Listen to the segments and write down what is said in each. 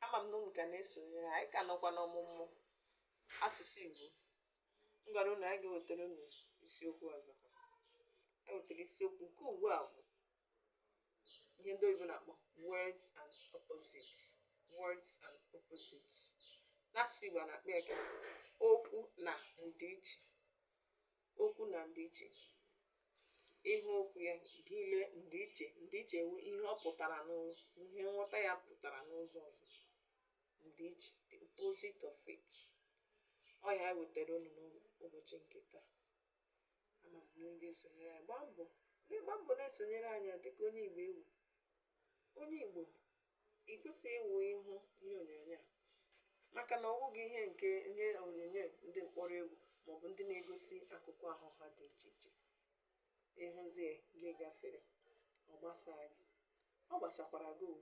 ama m na unu ka na-esonyere anyị ka nọkwa n'ọmụmụ asụsụ Igbo m gwara unu anyị ga-ewetara unu isiokwu ọzọ e wetara isiokwu nke ugbu a bụ ihe ndị oyibo na-akpọ words and opposites words and opposites n'asụsụ Igbo a na-akpọ ya ka okwu na ndịiche okwu na ndịiche ị hụ okwu ya gị lee ndịiche ndịiche wụ ihe ọ pụtara n'ụzọ ihe nghọta ya pụtara n'ụzọ ọzọ ndịiche the opposite of it ọ ya wetara unu n'ụbọchị nke taa ama m na unu sonyere anyị gbaa mbọ gbaa mbọ na-esonyere anyị a dịka onye igbo ị wụ onye igbo ị kwesịghị ịwụ ị hụ ihe onyonyo a maka na ọ bụghị ihe nke ihe onyonyo ndị mkpọrọ egwu maọbụ ndị na-egosi akụkụ ahụ ha dị iche iche ị hụzie gị gafere ọ gbasaa gị ọ gbasakwara gị o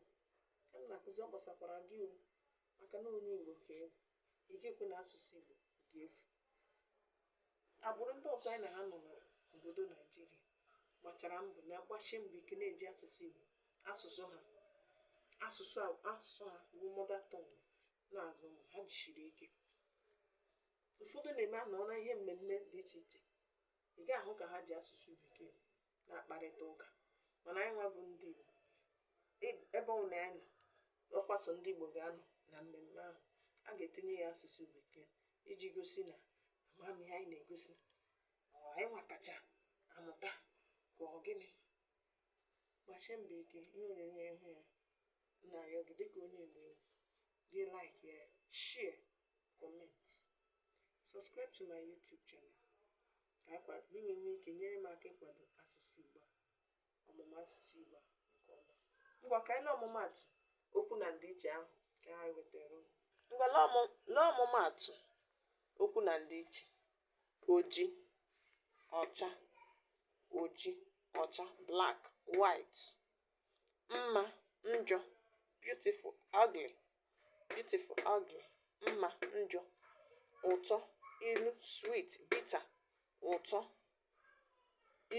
ka m na-akụzi ọ gbasakwara gị o maka na onye igbo ka ị wụ ị ga-ekwe na asụsụ igbo ga-efu Agbụrụ ndị ọzọ anyị na ha nọ n'obodo Naijiria gbachara mbọ na-agbasi mbọ ike na-eji asụsụ Igbo asụsụ ha asụsụ asụsụ ha bụ mother tongue na-azụ ụmụ ha jisiri ike ụfọdụ na-eme anọrọ ihe mmemme dị iche iche ị ga-ahụ ka ha ji asụsụ bekee na-akparịta ụka mana anyị nwa bụ ndị Igbo e- ebe ọ bụla anyị nọ ọ kwa sọ ndị Igbo ga-anọ na mmemme ahụ a ga-etinye ya asụsụ bekee iji gosi na ama m ihe anyị na-egosi ọ anyị nwa kacha amụta ka ọ gịnị gbasie mbọ ike ihe onyonyo ị hụ ya na-arịọ gị dịka onye Igbo ị wụ gị like ya share comment subscribe to my YouTube channel ka anyị kpa- ka unu nwee ike nyere m aka ịkwado asụsụ Igbo a, ọmụmụ asụsụ Igbo a nke ọma. Ngwa ka anyị lee ọmụmaatụ okwu na ndịiche ahụ ka anyị wetara unu. Ngwa lee ọmụ- lee ọmụmaatụ okwu na ndịiche. Oji, ọcha, oji, ọcha, black, white. Mma, njọ, beautiful, ugly, beautiful, ugly, mma, njọ, ụtọ, ilu, sweet, bitter, ụtọ,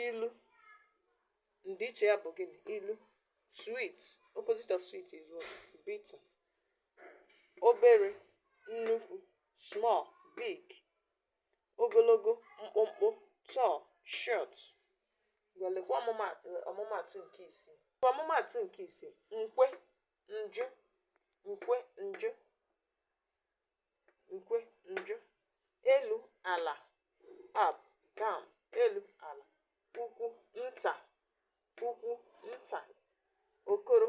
ilu, ndịiche ya bụ gịnị? Ilu, sweet, opposite of sweet is what? Bitter. Obere, nnukwu, small, big. Ogologo, mkpụmkpụ, tall, short. Ngwa lekwa ọmụma- ọmụmaatụ nke isii. Ọmụmaatụ nke isii, nkwe, njụ nkwe njụ nkwe njụ elu ala up down elu ala ukwu nta ukwu nta okoro